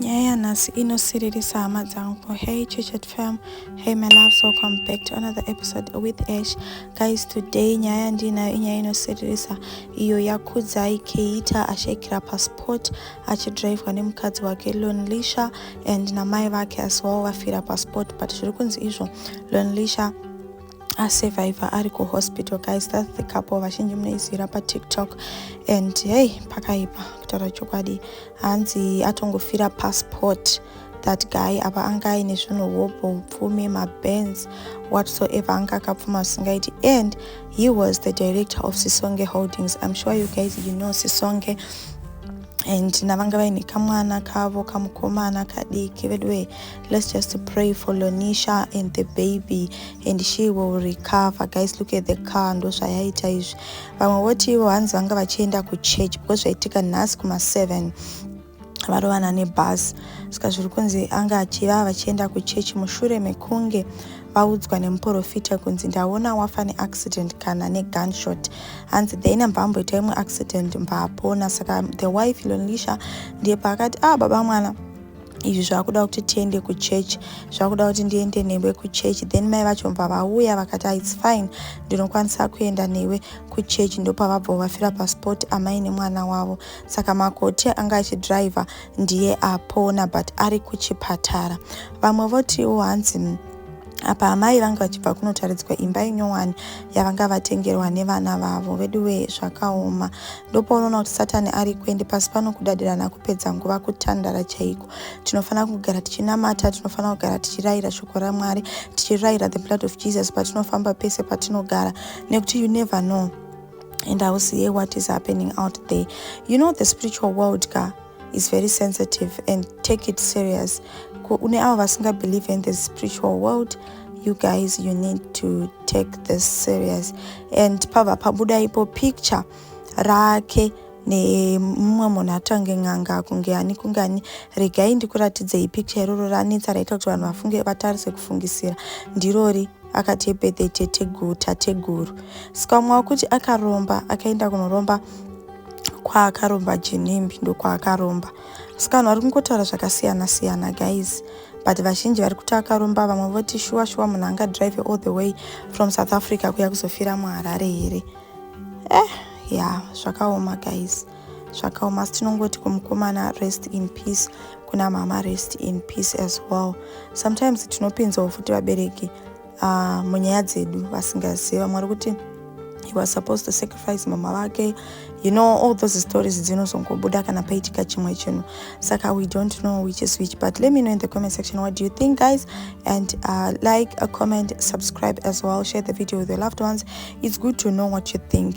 nyaya yanhasi inosiririsa hama dzangu hey chichet fam hey my loves welcome back to another episode with ash guys today nyaya yandiinayo inyaya inosiririsa iyo yakudzai keita ashaikira pasport achidrivwa nemukadzi wake lonlisha and namai vake as well vafira pasport but zviri kunzi izvo lonlisha asurvivor ari kuhospital guys thats the couple vazhinji munoizivira patiktok and hey pakaipa kutaura chokwadi hanzi atongofira passport that guy apa anga aine zvinhu hobho upfumi mabans whatsoever anga akapfuma asingaiti and he was the director of sisonge holdings im sure you guys you know sisonge and navanga vaine kamwana kavo kamukomana kadiki veduwee let's just pray for lonisha and the baby and she will recover guys look at the car ndozvayaita izvi vamwe voti ivo hanzi vanga vachienda kuchurch because zvaitika nhasi kuma7 varovana nebhasi saka zviri kunzi anga achiva vachienda kuchechi mushure mekunge vaudzwa nemuprofita kunzi ndaona wafa neaccident kana negunshot hanzi then ambva amboita imwe accident mbva apona saka the wife lonisha ndiye paakati ah baba mwana izvi zvakuda kuti tiende kuchurch zvakuda kuti ndiende newe kuchurch then mai vacho mva vauya vakati ah, its fine ndinokwanisa kuenda newe kuchurch ndopavabva vafira pasport amai nemwana wavo saka makoti anga achidriver ndiye apona but ari kuchipatara vamwe votiwo hanzi mm, apa amai vanga vachibva kunotaridzwa imba inyowani yavanga vatengerwa nevana vavo veduwe zvakaoma ndopaunoona kuti satani ari kuende pasi pano kudadirana kupedza nguva kutandara chaiko tinofanira kugara tichinamata tinofanira kugara tichirayira shoko ramwari tichirayira the blood of jesus patinofamba pese patinogara nekuti you never know and i will see what is happening out there you know the spiritual world ka is very sensitive and take it serious kune avo vasingabelieve in the spiritual world you guys you need to take this serious and pava pabuda ipo picture rake nemumwe munhu atange n'anga kunge ani kunge ani regai ndikuratidzei picture iroro ranetsa raita kuti vanhu vafunge vatarise kufungisira ndirori akati ebirthday teteguru tateguru saka umwe wakuti akaromba akaenda kunoromba kwaakaromba jinimbi ndokwaakaromba saka vanhu vari kungotaura zvakasiyana siyana guys but vazhinji vari kuti akaromba vamwe voti shuwa shuwa munhu anga drive all the way from south africa kuya kuzofira muharare here eh ya yeah, zvakaoma guys zvakaoma asi tinongoti kumukomana rest in peace kuna mama rest in peace as well sometimes tinopinzawo futi vabereki uh, munyaya dzedu vasingazivi vamwe vari kuti he was supposed to sacrifice mama vake you know all those stories dzinozongobuda kana paitika chimwe chinhu saka we don't know which is which but let me know in the comment section what do you think guys and uh, like a comment subscribe as well share the video with your loved ones it's good to know what you think